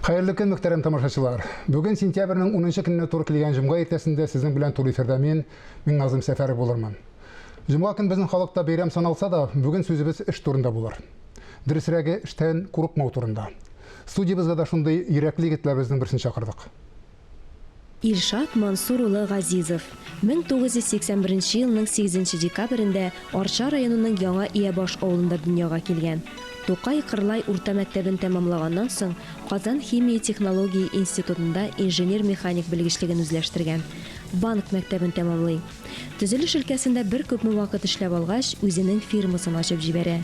Хәерле көн, мөхтәрәм тамашачылар! Бүген сентябрьнең унынчы көненә туры килгән җомга иртәсендә сезнең белән туры эфирда мин, Миңназыйм Сәфәров булырмын. Җомга көн безнең халыкта бәйрәм саналса да, бүген сүзебез эш турында булыр. Дөресрәге, эштән курыкмау турында. Студиябезгә дә шундый йөрәкле егетләребезнең берсен чакырдык. Илшат Мансур улы Газизов, 1981 елның 8 декабрендә Арча районының Яңа Иябаш авылында дөньяга килгән. Тукай Кырлай урта мәктәбен тәмамлаганнан соң, Казан химия-технология институтында инженер-механик белгечлеген үзләштергән. Банк мәктәбен тәмамлый. Төзелеш өлкәсендә бер күпме вакыт эшләп алгач, үзенең фирмасын ачып җибәрә.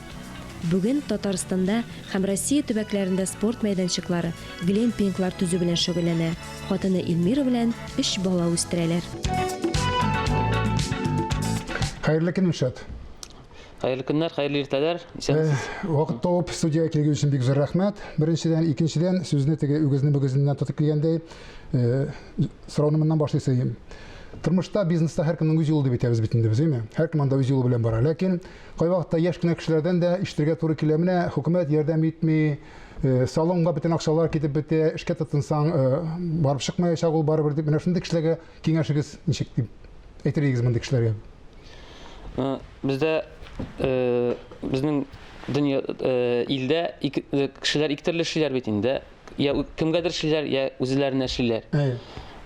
Бүген Татарстанда һәм Россия төбәкләрендә спорт мәйданчыклары, Глэмпинглар төзү белән шөгыльләнә. Хатыны Эльмира белән өч бала үстерәләр. Хәерле көн, Илшат. Хәерле көннәр, хәерле иртәләр. Исәнмесез. Вакыт табып студиягә килгән өчен бик зур рәхмәт. Беренчедән, икенчедән, сүзне теге үгезне мөгезеннән тотып килгәндәй, сорауны моннан башлый сыйм. Тормышта, бизнеста һәркемнең үз юлы дип әйтәбез бит инде без, әйме? Һәркем анда үз юлы белән бара. Ләкин кайвакытта яшь кенә кешеләрдән дә ишетергә туры килә, менә хөкүмәт ярдәм итми, Э, салонга бөтен акчалар китеп бетә, эшкә тотынсаң, э, барып чыкмаячак ул барыбер дип, менә шундый кешеләргә киңәшегез ничек дип әйтер идегез мондый кешеләргә? Э, бездә безнең дөнья илдә кешеләр ике төрле эшлиләр бит инде. Я кемгәдер эшлиләр, я үзләренә эшлиләр.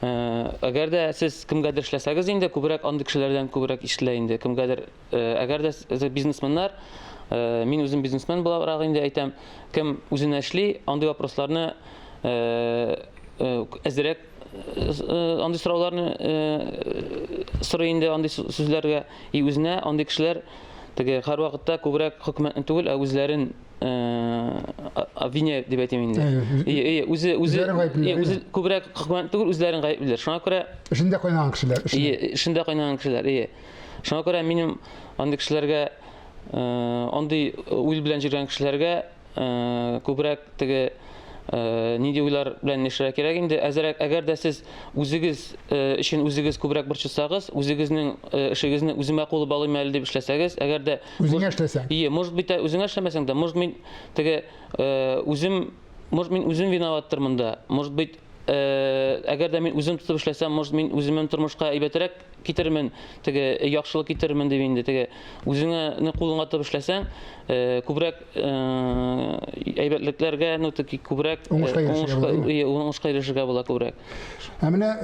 Әгәр дә сез кемгәдер эшләсәгез инде, күбрәк андый кешеләрдән күбрәк ишетелә инде. Кемгәдер Әгәр дә бизнесменнар, мин үзем бизнесмен буларак инде әйтәм, кем үзенә эшли, андый вопросларны әзерәк андый сорауларны сорый инде андый сүзләргә и үзенә андый кешеләр теге һәрвакытта күбрәк хөкүмәтне түгел, ә үзләрен обвиняют дип әйтим инде. Әйе, үзе үзе үзе күбрәк хөкүмәтне түгел, үзләрен гаеплиләр. Шуңа күрә эшендә кайнаган кешеләр. Эшендә кайнаган кешеләр, әйе. Шуңа күрә минем андый кешеләргә, андый уйл белән җөргән кешеләргә күбрәк теге нинди уйлар белән яшәргә кирәк инде. Әзерәк, әгәр дә сез үзегез өчен үзегез күбрәк борчылсагыз, үзегезнең эшегезне үземә кулып алыйм әле дип эшләсәгез, әгәр дә үзеңә эшләсәң. Ие, может быть, үзеңә эшләмәсәң дә, может мин теге үзем, может мин үзем виноваттыр монда. Может быть, Әгәр дә мин үзем тотып эшләсәм, может, мин үземнең тормышка әйбәтрәк китермен, теге яхшылык китермен дип инде теге үзеңне кулыңа тотып эшләсәң, күбрәк әйбәтлекләргә, ну теге күбрәк уңышка ирешергә була күбрәк. Ә менә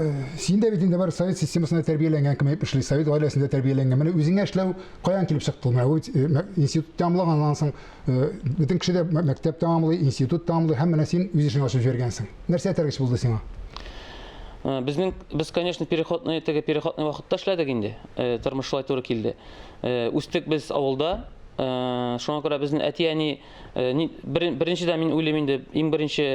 син дә бит инде бар совет системасында тәрбияләнгән кем әйтеп эшли, совет гаиләсендә тәрбияләнгән. Менә үзеңә эшләү каян килеп чыкты? Менә институт тәмамлаганнан соң Э, бөтен кеше дә мәктәп тәмамлый, институт тәмамлый, һәм менә син үз эшеңә ашып җибәргәнсең. Нәрсә этәргеч булды сиңа? Э, безнең без, конечно, переходный теге переходный вакытта эшләдек инде. Э, тормыш шулай туры килде. Үстек без авылда. Шуңа күрә безнең әти-әни беренчедән мин уйлыйм инде, иң беренче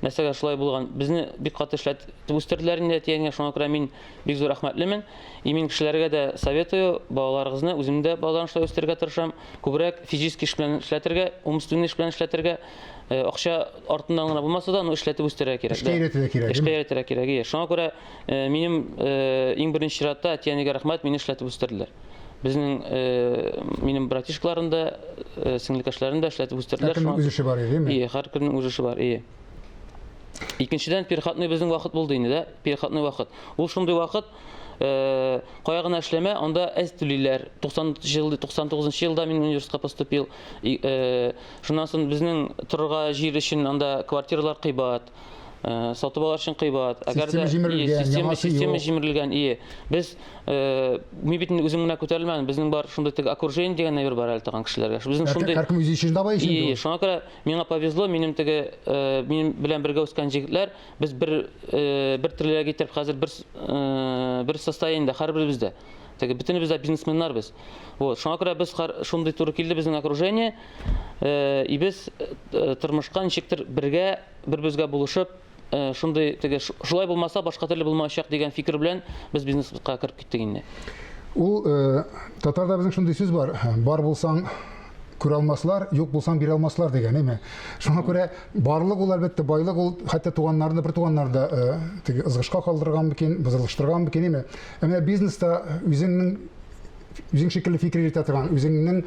нәрсәгә шулай булган. Безне бик каты эшләтеп үстерделәр инде әти-әнигә. Шуңа күрә мин Бик зур рәхмәтлемен. Имин кешеләргә дә советую, балаларыгызны үзем дә балаларны шулай үстерергә тырышам. Күбрәк физически эш белән эшләтергә, умственный эш белән эшләтергә. Э, акча артыннан гына булмаса да, ну эшләтеп үстерергә кирәк. Эшкә өйрәтергә кирәк. Эшкә өйрәтергә кирәк. Е. Шуңа күрә э, минем э, иң беренче чиратта әти-әнигә рәхмәт, мине эшләтеп үстерделәр. Безнең минем братишкаларым да, сеңлекәшләрем дә эшләтеп үстерделәр. Һәркемнең үз эше бар, яме? Ие, һәркемнең үз эше бар, ие. Икенчедән, переходной безнең вакыт булды инде, да? Переходной вакыт. Ул шундый вакыт, э, кая гына эшләмә, анда әз түлиләр. 90 ел, 99 елда мин университетка поступил. И, э, шуннан соң безнең торырга җир өчен анда квартиралар кыйбат. Э, сатып алар өчен кыйбат. Әгәр дә система система җимерелгән, ие. Без э, мин бит үзем генә күтәрелмәдем. Безнең бар шундый теге окружение дигән әйбер бар әле тагын кешеләргә. Безнең шундый Һәркем үзе өчен давай эшли. Ие, шуңа күрә Миңа повезло, минем теге минем белән бергә үскән җегетләр, без бер бер триллерга итеп хәзер бер бер состояниедә һәрберебез дә. Теге бөтенебез дә бизнесменнар без. Вот, шуңа күрә без шундый туры килде безнең окружение. И без тормышка ничектер бергә, бер-безгә булышып, Э, шундый теге шулай булмаса башка төрле булмаячак дигән фикер белән без бизнеска кереп киттек инде ул э, татарда безнең шундый сүз бар бар булсаң күрә алмаслар, юк булсаң бирә алмаслар дигән, әйме. Шуңа күрә барлык ул әлбәттә байлык ул хәтта туганнарны бер туганнар да э, теге ызгышка калдырган микән, бозылыштырган микән, әйме. Ә менә бизнеста үзеңнең үзең шикелле фикер йөртә торган, үзеңнең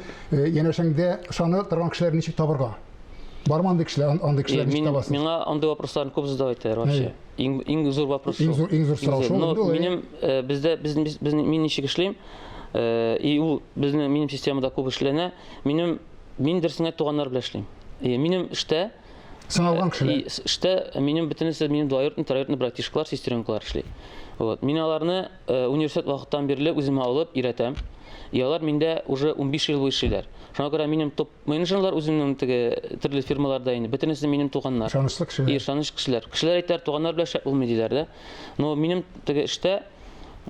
янәшәңдә ышанып торган кешеләрне ничек табырга? Бармы андый кешеләр, андый кешеләр ничек табасыз? Миңа андый вопросларны күп задавать итәләр вообще. Иң иң зур вопрос. Иң зур иң зур сорау шул. Но минем э, бездә без без мин ничек эшлим? Э, и ул безнең минем системада күп эшләнә. Минем мин дөресенә туганнар белән эшлим. И минем эштә сыналган э, кешеләр. И эштә минем бөтенесе минем двоюродный, троюродный братишкалар, сестренкалар эшли. Вот. Мин аларны университет вакыттан бирле үземә алып өйрәтәм. И алар миндә уже 15 ел буе эшлиләр. Шуңа күрә минем топ Минем җаннар үземнең теге төрле фирмаларда инде, бөтенесе минем туганнар. Ышанычлы кешеләр. И, ышаныч кешеләр. Кешеләр әйтәләр, туганнар белән шәп булмый диләр дә. Но минем теге эштә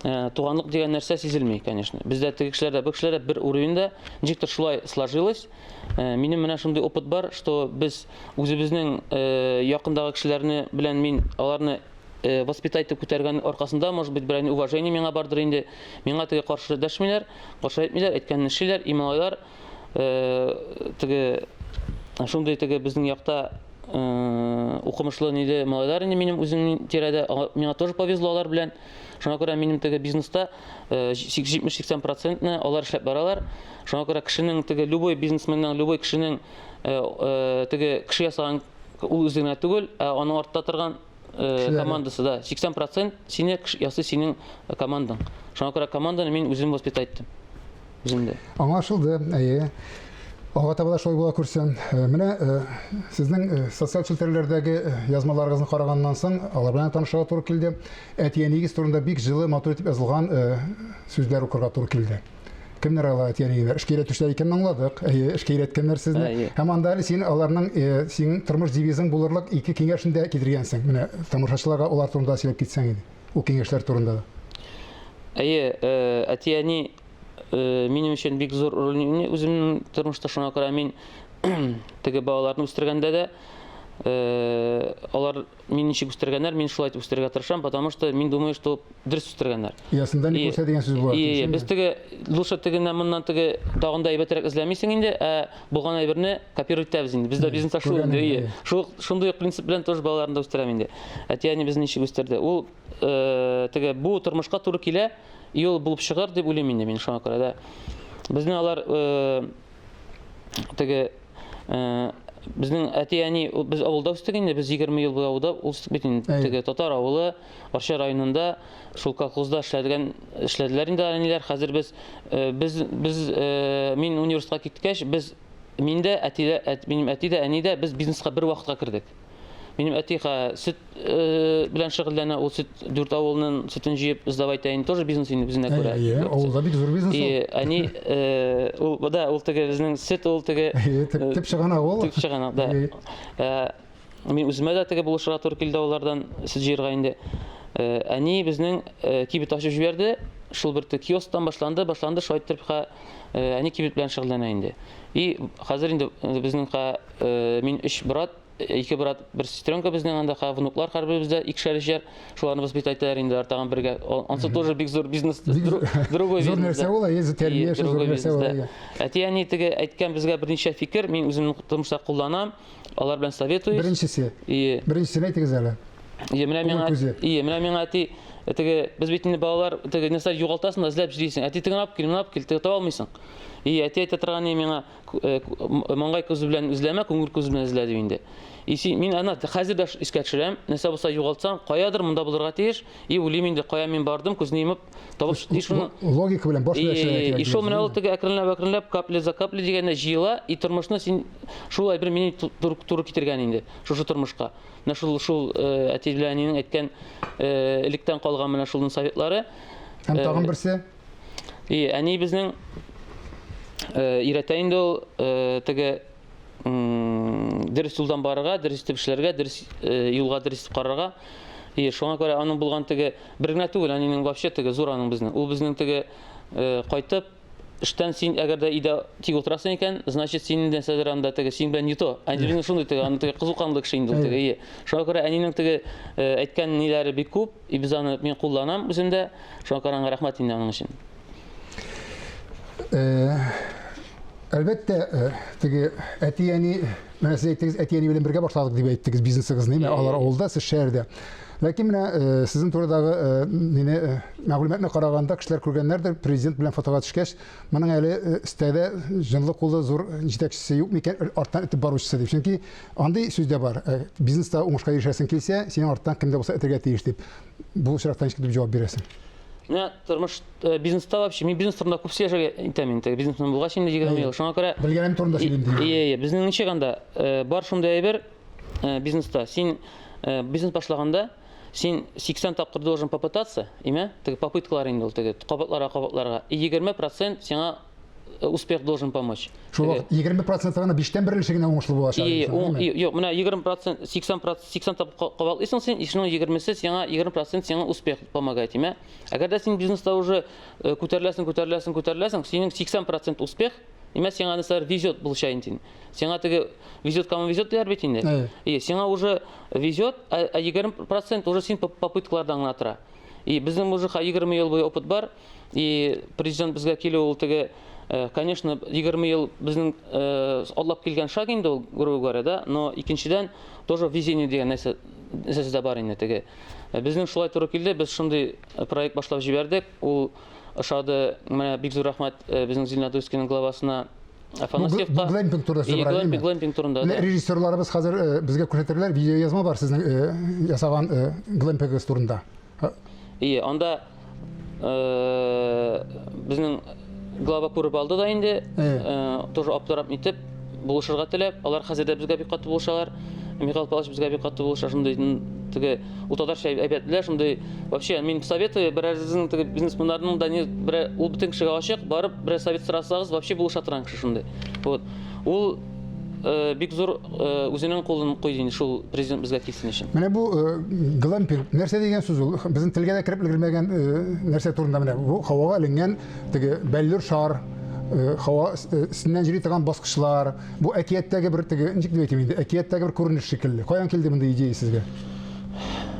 э, туганлык дигән нәрсә сизелми, конечно. Бездә теге кешеләр дә, бу кешеләр дә бер уровеньда, ничектер шулай сложилось. Э, минем менә шундый опыт бар, что без үзебезнең э, якындагы кешеләрне белән мин аларны э, воспитать итеп күтәргән аркасында, может быть, берәйне уважение миңа бардыр инде. Миңа теге каршы дәшмиләр, каршы әйтмиләр, әйткәнне эшлиләр, и малайлар теге шундый теге безнең якта укымышлы ниле малайлар инде минем үземнең тирәдә миңа тоже повезло алар белән шуңа күрә минем теге бизнеста җитмеш сиксән процентны алар эшләп баралар шуңа күрә кешенең теге любой бизнесменның любой кешенең теге кеше ясаган ул үзенә түгел ә аның артта торган э, командасы, да. 80% сине ясы синең э, командаң. Шуңа күрә команданы мин үзем воспитать иттем. Үземдә. Аңлашылды. Әйе. Алга таба да шулай була күрсен. Э, менә э, сезнең э, социаль челтәрләрдәге язмаларыгызны караганнан соң, алар белән танышырга туры килде. Әтиәнигез турында бик җылы, матур итеп язылган сүзләр укырга туры килде. кемнәр алай тирәләр эшкә өйрәтүчеләр икәнен аңладык әйе эшкә өйрәткәннәр сезне һәм анда әле син аларның э, синең тормыш девизың булырлык ике киңәшен дә китергәнсең менә тамашачыларга алар турында сөйләп китсәң иде ул киңәшләр турында да әйе э, әти әни э, минем өчен бик зур роль уйный үземнең тормышта шуңа күрә мин теге балаларны үстергәндә дә алар мин ничек үстергәннәр, мин шулай итеп үстерергә тырышам, потому что мин думаю, что дөрес үстергәннәр. Ясында не күрсә дигән сүз була. И, без теге лучше тегеннән моннан теге тагын да әйбәтрәк эзләмисең инде, ә булган әйберне копировать итәбез инде. Бездә бизнеста шул инде. И, шул шундый ук принцип белән тоже балаларны да үстерәм инде. Әти әни безне ничек үстерде? Ул э, теге бу тормышка туры килә, и ул булып чыгар дип уйлыйм инде мин шуңа күрә дә. Безне алар э, теге Безнең әти-әни, без авылда үстек инде, без 20 ел буе авылда үстек бит инде. Теге татар авылы, Арча районында, шул колхозда эшләдегән, эшләделәр инде әниләр. Хәзер без, без, без, мин университетка киткәч, без, мин дә, әти дә, минем әти дә, әни дә, без бизнеска бер вакытка кердек. Минем әтиха сөт э, белән шөгыльләнә, ул сөт дүрт авылның сөтен җыеп сдавай тәен тоже бизнес инде үзенә күрә. Әйе, авылда бик зур бизнес. И әни э, ул да ул теге безнең сөт ул теге төп чыгана ул. Төп чыгана, да. Э, мин үземә дә теге булышырга туры килде алардан сөт җыерга инде. Әни безнең кибет ачып җибәрде. Шул бер киосктан башланды, башланды, шулай итеп э, әни кибет белән шөгыльләнә инде. И хәзер инде э, безнең э, мин өч брат, ике брат, бер сестренка безнең анда ха внуклар хәрбебездә икешәр ишәр. Шуларны воспитать итәләр инде артаган бергә. Ансы тоже бик зур бизнес, другой бизнес. Зур нәрсә ул, әйе, тәрбия, зур нәрсә ул. Әти әни теге әйткән безгә берничә фикер, мин үземне тормышта кулланам. Алар белән советуюсь. Беренчесе. И... Беренчесен әйтегез әле. Ие, менә миңа, ие, менә миңа әти, теге, без бит инде балалар, теге, нәрсә югалтасың да, эзләп җыйсың. Әти тегін алып кил, мына алып кил, теге таба алмыйсың. И әти әйтә торган ни миңа, э, маңгай күзе белән эзләмә, күңел күзе белән эзлә дип инде. И син, мин ана хәзер дә искә төшерәм, нәрсә булса югалтсам, каядыр монда булырга тиеш, и үлим инде, кая мин бардым, күзне йомып, Табыш и шуны логика белән баш белән эшләргә кирәк. И шул менә ул теге әкренләп әкренләп капли за капли дигәндә җыела и тормышны син шул әйбер мине туры, туры китергән инде шушы тормышка. Менә шул шул э, әти белән әнинең әйткән э, электән калган менә шулның советлары. Һәм тагын э, берсе. И әни безнең өйрәтә инде ул теге дөрес юлдан барырга, дөрес итеп эшләргә, дөрес юлга дөрес итеп карарга. И шуңа күрә аның булган теге бер генә түгел, әнинең вообще теге зур аның безнең. Ул безнең теге кайтып эштән син әгәр дә өйдә тик утырасың икән, значит син инде сәдер анда теге син белән не то. Әнинең шундый теге, аны теге кызу канлы кеше инде теге. И шуңа күрә әнинең теге әйткән ниләре бик күп, и без аны мин кулланам үземдә. Шуңа күрә аңа рәхмәт инде аның өчен. Э, Әлбәттә, э, теге әти-әни, менә сез әйттегез, әти-әни белән бергә башладык дип әйттегез бизнесыгызны, әйе, алар авылда, сез шәһәрдә. Ләкин менә э, сезнең турыдагы э, мине мәгълүматны караганда кешеләр күргәннәрдер, президент белән фотога төшкәч, моның әле стәдә җынлы кулы зур җитәкчесе юк микән, арттан итеп баручысы дип. Чөнки андый сүз дә бар. Бизнеста уңышка ирешәсең килсә, синең арттан кемдә булса итәргә тиеш дип. Бу очракта ничек дип җавап бирәсең? Менә тормыш э, бизнеста вообще, мин бизнес турында күп сөйләшергә итәм инде. Бизнесмен булгач инде 20 ел. Шуңа күрә Белгәнем турында сөйлим диген. Ие, ие. Безнең ничек анда э, бар шундый әйбер э, бизнеста. Син э, бизнес башлаганда син 80 тапкыр должен попытаться, име? Теге попыткалар инде ул теге кабатларга кабатларга. И 20% сиңа Э, успех должен помочь. Шул вакыт 20 проценты гына биштән бер өлеше генә уңышлы булачак. И, уң, и, юк, менә 20 процент, 80 процент, 80 тап кабатлыйсың син, ишнең 20-се сиңа 20 процент сиңа успех помогает, имә. Әгәр дә син бизнеста уже э, күтәреләсең, күтәреләсең, күтәреләсең, синең 80 процент успех, имә сиңа нәрсәләр везет булачак инде. Сиңа теге везет, кому везет дияр бит инде. И, сиңа уже везет, а 20 процент уже син попыткалардан гына тора. И, безнең уже 20 ел буе опыт бар, И президент безгә килү ул теге э, конечно 20 ел безнең э, атлап килгән шаг инде ул грубо говоря да но икенчедән тоже везение дигән нәрсә нәрсәсе дә бар инде теге э, безнең шулай туры килде без шундый проект башлап җибәрдек ул ошады менә бик зур рәхмәт безнең зеленодольскийның главасына Афанасьевка. Глэмпинг турында бара, димме? Глэмпинг турында. Менә режиссерларыбыз хәзер безгә күрсәтерләр, видеоязма бар сезнең ясаган глэмпингыгыз турында. Ие, анда э, безнең глава күреп алды да инде, э. Э, тоже аптырап нитеп, булышырга теләп, алар хәзер дә безгә бик каты булышалар. Михаил Павлович безгә бик каты булыша, шундый теге ул татарча әйбәтләр, шундый вообще мин советую берәрегезнең теге бизнесменнарның да не бер ул бөтен кешегә ачык, барып берәр совет сорасагыз, вообще булыша торган кеше шундый. Вот. Ул Э, бик зур э, үзенең кулын куйды инде шул президент безгә килсен өчен. Менә бу э, глампер нәрсә дигән сүз ул? Безнең телгә дә кереп өлгермәгән нәрсә турында менә бу һавага эленгән теге бәллүр шар һава өстеннән җөри торган баскычлар. Бу әкияттәге бер теге ничек дип әйтим инде, әкияттәге бер күренеш шикелле. Каян килде мондый идея сезгә?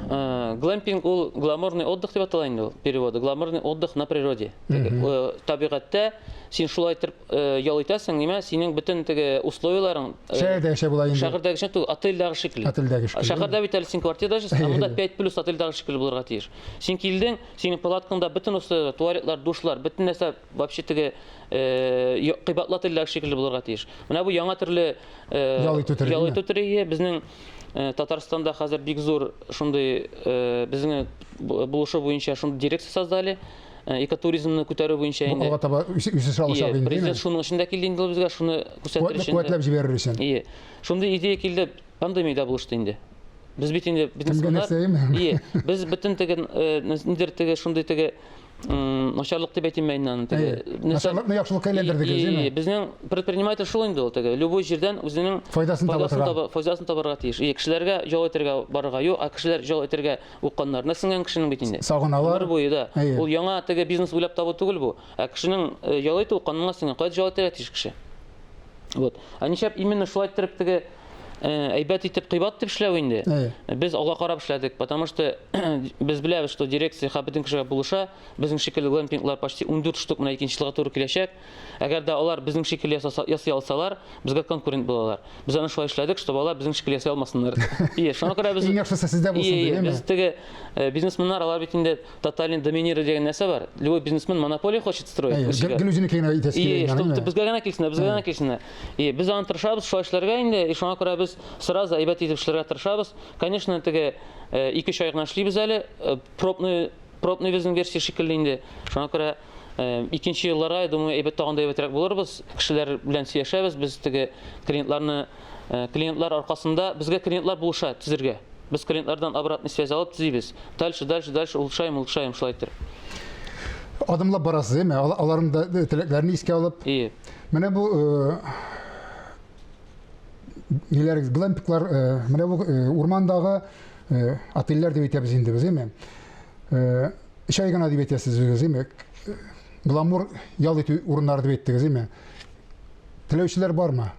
Глампинг ул гламурный отдых дип атала инде ул переводы. Гламурный отдых на природе. Табигатьтә син шулай итеп ял итәсең, нимә, синең бөтен теге условияләрен Шәһәрдә яшәп була инде. Шәһәрдә яшәп түгел, отельдагы шикелле. Отельдә шикелле. Шәһәрдә бит әле син квартирада яшәсең, ә монда 5 плюс отельдагы шикелле булырга тиеш. Син килдең, синең палаткаңда бөтен условияләр, туалетлар, душлар, бөтен нәрсә вообще теге кыйбатлы отельдагы шикелле булырга тиеш. Менә бу яңа төрле ял итү төре. Ял итү төре безнең Э, Татарстанда хәзер бик зур шундый э, безнең булышу буенча шундый дирекция создали. Э, экотуризмны күтәрү буенча инде алга таба үсеш алачак инде президент шуның өчен дә килде инде ул безгә шуны күрсәтер өчен куәтләп җибәрер өчен ие шундый идея килде пандемиядә булышты инде без бит инде бизнесменнар ие без бөтен теге э, нидер теге шундый теге начарлык дип әйтим мин аны теге начарлыкны яхшылыкка әйләндердегез ие безнең предприниматель шул инде ул теге любой җирдән үзенең файдасын табарга файдасын табарга тиеш ие кешеләргә ял итәргә барырга юк а кешеләр ял итәргә Укканнарына сеңгән кешенең бит инде. Сагыналар. Гомер буе да. Әйе. Ул яңа теге бизнес уйлап табу түгел бу. Ә кешенең э, ял итү канунга сеңгән. Кая ял итәргә тиеш кеше? Вот. Ә нишләп именно шулай иттереп теге э, әйбәт итеп кыйбат итеп эшләү инде? Әйе. Без алга карап эшләдек, потому что без беләбез, что дирекция һәр бөтен кешегә булыша. Безнең шикелле глэмпинглар почти 14 штук менә икенче елга туры киләчәк. Әгәр дә алар безнең шикелле ясаса, ясый алсалар, безгә конкурент булалар. Без аны шулай эшләдек, чтобы алар безнең шикелле ясый алмасыннар. Ие, шуңа күрә без... Иң яхшысы сездә булсын, Ие, ие, дигәнме? без теге э, бизнесменнар, алар бит инде тотальный доминировать дигән нәрсә бар. Любой бизнесмен монополия хочет строить. Әйе, ничек? гел- гел үзенеке генә итәсе Ие, килгән, чтобы әйе. безгә генә килсеннәр, безгә генә килсеннәр. Ие, без аны тырышабыз шулай эшләргә инде, и шуңа күрә без сразу әйбәт итеп эшләргә тырышабыз. Конечно, теге э, ике-өч ай гына эшлибез әле, э, пробный пробный безнең версия шикелле инде. Шуңа күрә Икенче елларга, я думаю, әйбәт тагын да әйбәтрәк булырбыз. Кешеләр белән сөйләшәбез, без теге клиентларны клиентлар аркасында безгә клиентлар булыша төзергә. Без клиентлардан обратный связь алып төзибез. Дальше, дальше, дальше улучшаем, улучшаем шулай итеп. Адымлап барасыз, әйме? Аларның да теләкләрен искә алып. Ие. Менә бу ниләрегез, глэмпиклар, менә бу урмандагы отельләр дип әйтәбез инде без, әйме? Өч ай гына дип әйтәсез үзегез, име? Гламур ял итү урыннары дип әйттегез, име? Теләүчеләр бармы?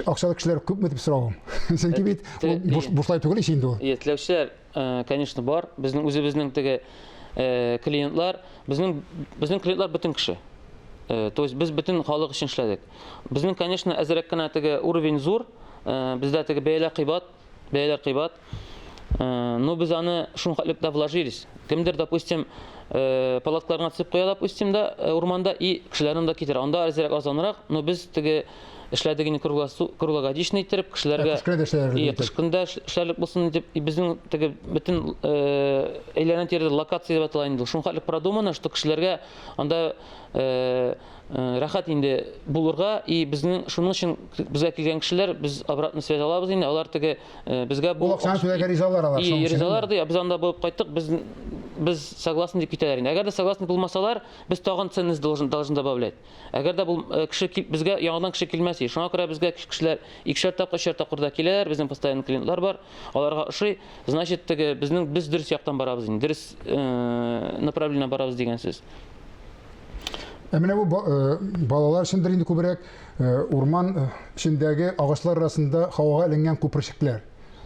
Акчалы кешеләр күпме дип соравым. Чөнки э, бит бушлай түгел ич инде ул. Э, теләүчеләр, э, конечно, бар. Безнең үзебезнең теге клиентлар, безнең безнең клиентлар бөтен кеше. То есть без бөтен халык өчен эшләдек. Безнең, конечно, әзрәк кенә теге уровень зур, Э, бездә теге бәялә кыйбат бәяләр кыйбат. Э, ну, без аны шул хәтлек тә вложились. Кемдер, допустим, э, палаткаларына төсеп куя, допустим, да, э, урманда, и кешеләрен да китерә. Анда әзерәк азанрак, но без теге эшләдек инде круглогодичный иттереп, кешеләргә... Кыш көндә эшләрлек. И, кыш көндә эшләрлек булсын дип, и безнең теге бөтен әйләнә тирәдә локация дип атала инде. Шул хәтлек продумано, что кешеләргә анда рәхәт инде булырга и безнең шуның өчен безгә килгән кешеләр без обратный связь алабыз инде алар теге безгә бу акчаны түләргә ризалар алар и ризалар ди без анда булып кайттык без без согласны дип китәләр инде әгәр дә согласны булмасалар без тагын ценность должен должен добавлять әгәр дә бу кеше безгә яңадан кеше килмәс и шуңа күрә безгә кешеләр икешәр тапкыр өчәр тапкыр да киләләр безнең постоянный клиентлар бар аларга ошый значит теге безнең без дөрес яктан барабыз инде дөрес направление барабыз дигән сүз Ә менә бу э, балалар өчендер инде күбрәк э, урман э, эчендәге агачлар арасында һавага эленгән күперчекләр.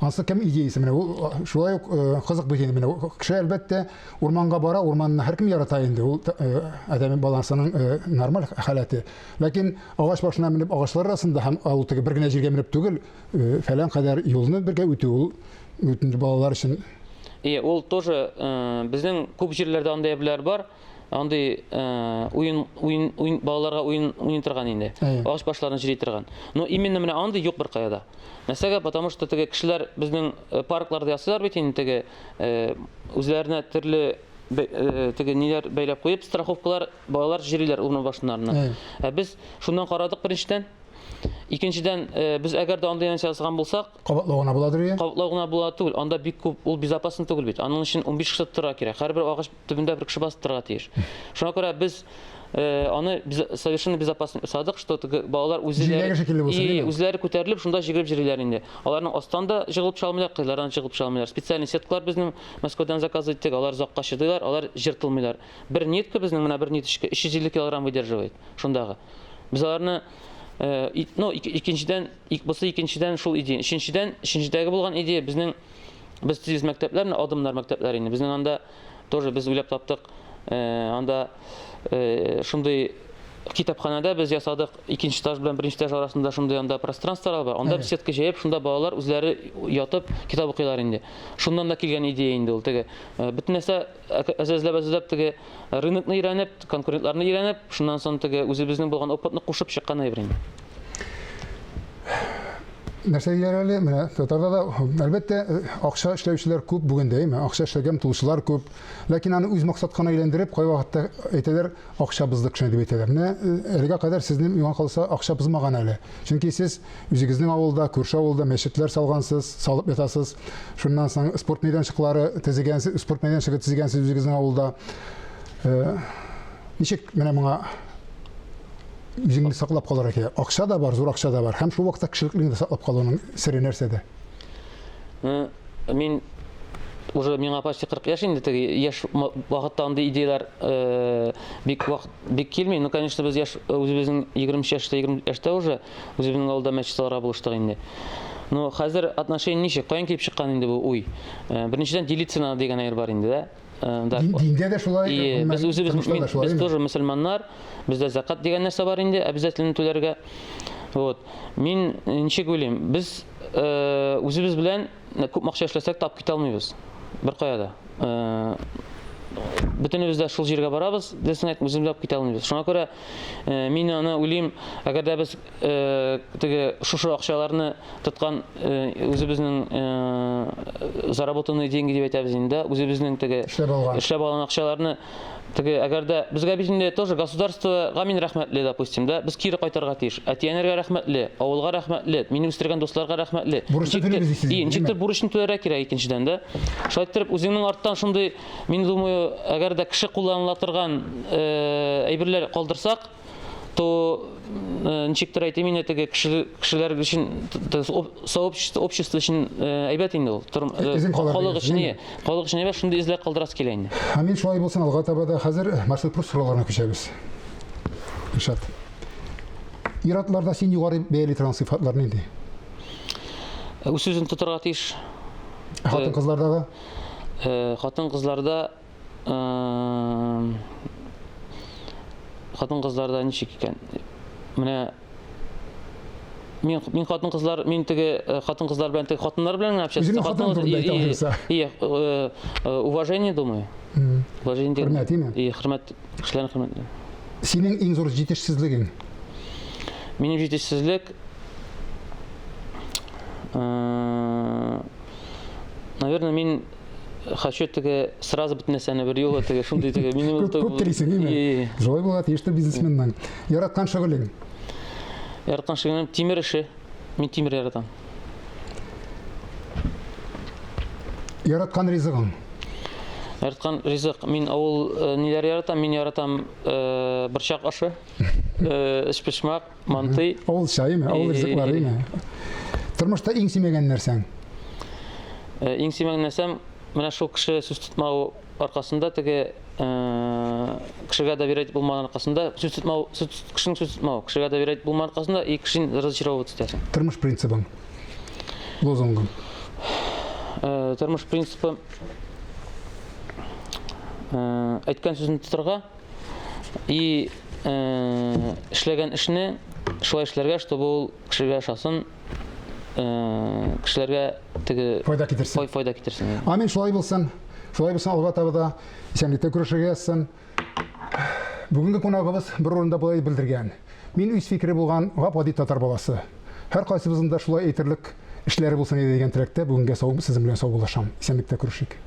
Ансы кем идеясы менә ул шулай ук кызык бит инде менә кеше әлбәттә урманга бара, урманны һәркем ярата инде ул адәм баласының нормаль халәте. Ләкин агач башына менеп агачлар арасында һәм ул теге бер генә җиргә менеп түгел, фәлән кадәр юлны бергә үтү ул үтенде балалар өчен. Ие, ул тоже безнең күп җирләрдә андый әбиләр бар. андый уен уен уен балаларга уен уйный торган инде агач башларын җыри торган но именно менә андый юк беркая да нәрсәгә потому что теге кешеләр безнең э, паркларда ясыйлар бит инде теге э, үзләренә төрле э, теге ниләр бәйләп куеп страховкалар балалар җөриләр урын башыннарына ә без шуннан карадык беренчедән Икенчедән, э, без әгәр дә андый нәрсә ясаган булсак, кабатлау гына буладыр ия. Кабатлау гына була түгел, анда бик күп ул безопасно түгел бит. Аның өчен 15 кеше тора кирәк. Һәрбер агач төбендә бер кеше басып торырга тиеш. Шуңа күрә без э, аны без, совершенно безопасно ясадык, что теге балалар Җиләге шикелле булсын, үзләре, димени? үзләре күтәрелеп, шунда җигелеп җөриләр инде. Аларның астан да җыгылып чыга алмыйлар, кыйлардан җыгылып чыга алмыйлар. Специальный сеткалар безнең Мәскәүдән заказ иттек, алар озакка чыдыйлар, алар җыртылмыйлар. Бер нитка безнең менә бер ниточка 350 килограмм выдерживает шундагы. Без аларны э, и- ну, ик- икенчедән, ик- бусы икенчедән шул идея. Өченчедән, өченчедәге булган идея безнең Без тиз мәктәпләр, менә адымнар мәктәпләре инде. Безнең анда тоже без уйлап таптык. Э, анда э, шундый китапханәдә без ясадык икенче этаж белән беренче этаж арасында шундый анда пространстволар бар анда беседка җәеп шунда балалар үзләре ятып китап укыйлар инде шуннан да килгән идея инде ул теге э, бөтен нәрсә Әзрәзләп-әзрәзләп теге рынокны өйрәнеп, конкурентларны өйрәнеп, шуннан соң теге үзебезнең булган опытны кушып чыккан әйбер инде. Нәрсә диләр әле, менә татарда да, әлбәттә, акча эшләүчеләр күп бүген дә, әйме, акча эшләгән тулчылар күп. Ләкин аны үз максаткана әйләндереп, кайвакытта әйтәләр, Акча бозды кешене дип әйтәләр. Менә әлегә кадәр сезнең миңа калса акча бозмаган әле. Чөнки сез үзегезнең авылда, күрше авылда мәчетләр салгансыз, салып ятасыз. Шуннан соң спорт мәйданчыклары төзегәнсез, спорт мәйданчыгы төзегәнсез үзегезнең авылда. Ничек менә моңа үзеңне саклап калырга кирәк? Акча да бар, зур акча да бар. Һәм шул вакытта кешелеклеңне саклап калуның сере нәрсәдә? Э, мин уже миңа почти 40 яшь инде теге яшь вакытта андый идеяләр э, бик вакыт бик килми. Ну, конечно, без яшь э, үзебезнең 23 яшьтә, 20 яшьтә уже үзебезнең авылда мәчет салырга булыштык инде. Ну, хәзер отношение ничек? Каян килеп чыккан инде бу уй? Э, беренчедән делиться надо дигән әйбер бар инде, да? Э, да. Диндә дә шулай. И, без үзебез мин, без тоже мусульманнар. Бездә закат дигән нәрсә бар инде, обязательно түләргә. Вот. Мин э, ничек уйлыйм? Без э, үзебез белән э, күп акча эшләсәк тап китә алмыйбыз. Бер кая да. Э, Бөтенебез дә шул җиргә барабыз, дисәк, үзебез дә китә алмыйбыз. Шуңа күрә э, мин аны уйлыйм, әгәр дә без теге шушы акчаларны тоткан үзебезнең заработанные деньги дип әйтәбез инде, үзебезнең теге эшләп алган эшләп алган акчаларны теге әгәр дә безгә бит инде тоже государствога мин рәхмәтле, допустим, да, без кире кайтарга тиеш. Әтиәнәргә рәхмәтле, авылга рәхмәтле, мине үстергән дусларга рәхмәтле. Бурычны түлибез ди сез. И, ничектер бурычны түләргә кирәк икенчедән, да. Шулай итеп үзеңнең арттан шундый, мин думаю, әгәр дә кеше кулланыла торган әйберләр калдырсак, то ничек тә әйтим инде теге кешеләр өчен сообщество общество өчен әйбәт инде ул халык өчен халык өчен әйбәт шундый эзләр калдырасы килә инде амин шулай булсын алга таба да хәзер маршрут плюс сорауларына күчәбез Ильшат ир-атларда син югары бәяли торган сыйфатлар нинди үз сүзен тотарга тиеш хатын-кызлардагы хатын-кызларда хатын-кызларда ничек икән? Менә мин мин хатын кызлар мин теге э, хатын кызлар белән теге хатыннар белән генә общаться Үземнең хатын турында әйтә алырса. Э, э, уважение думаю уважение деген хөрмәт име и хөрмәт кешеләрне хөрмәт синең иң зур җитешсезлегең минем җитешсезлек наверное мин хочу теге сразу бит нәрсәне бер юлы теге шундый теге минем күп, күп телисең име шулай була тиеш тә бизнесменның яраткан шөгылең яраткан шөгылем тимер эше мин тимер яратам яраткан ризыгың яраткан ризык мин авыл э, ниләр яратам мин яратам э, борчак ашы э, эчпочмак Мантый. Авыл чайымы, авыл ризыкларымы? Тормышта иң сөймәгән нәрсәң? Э, иң сөймәгән нәрсәм, менә шул кеше сүз тотмау аркасында теге э, кешегә доверять булмаган аркасында сүз тотмау, кешенең сүз тотмау, кешегә доверять булмаган аркасында и кешен разочаровывать итәсең. Тормыш принцибың. Лозунгың. Э, тормыш принцибы әйткән сүзен тотырга, И эшләгән эшне шулай эшләргә, чтобы ул кешегә ошасын, кешеләргә теге файда китерсен. Файда китерсен. Амин, шулай булсын. Шулай булсын, алга таба да исәнлектә күрешергә язсын. Бүгенге кунагыбыз бер урында болай белдергән. Мин үз фикере булган гап-гади татар баласы. Һәр кайсыбызның да шулай әйтерлек эшләре булсын иде дигән теләктә бүгенгә сау, сезнең белән саубуллашам. Исәнлектә күрешик.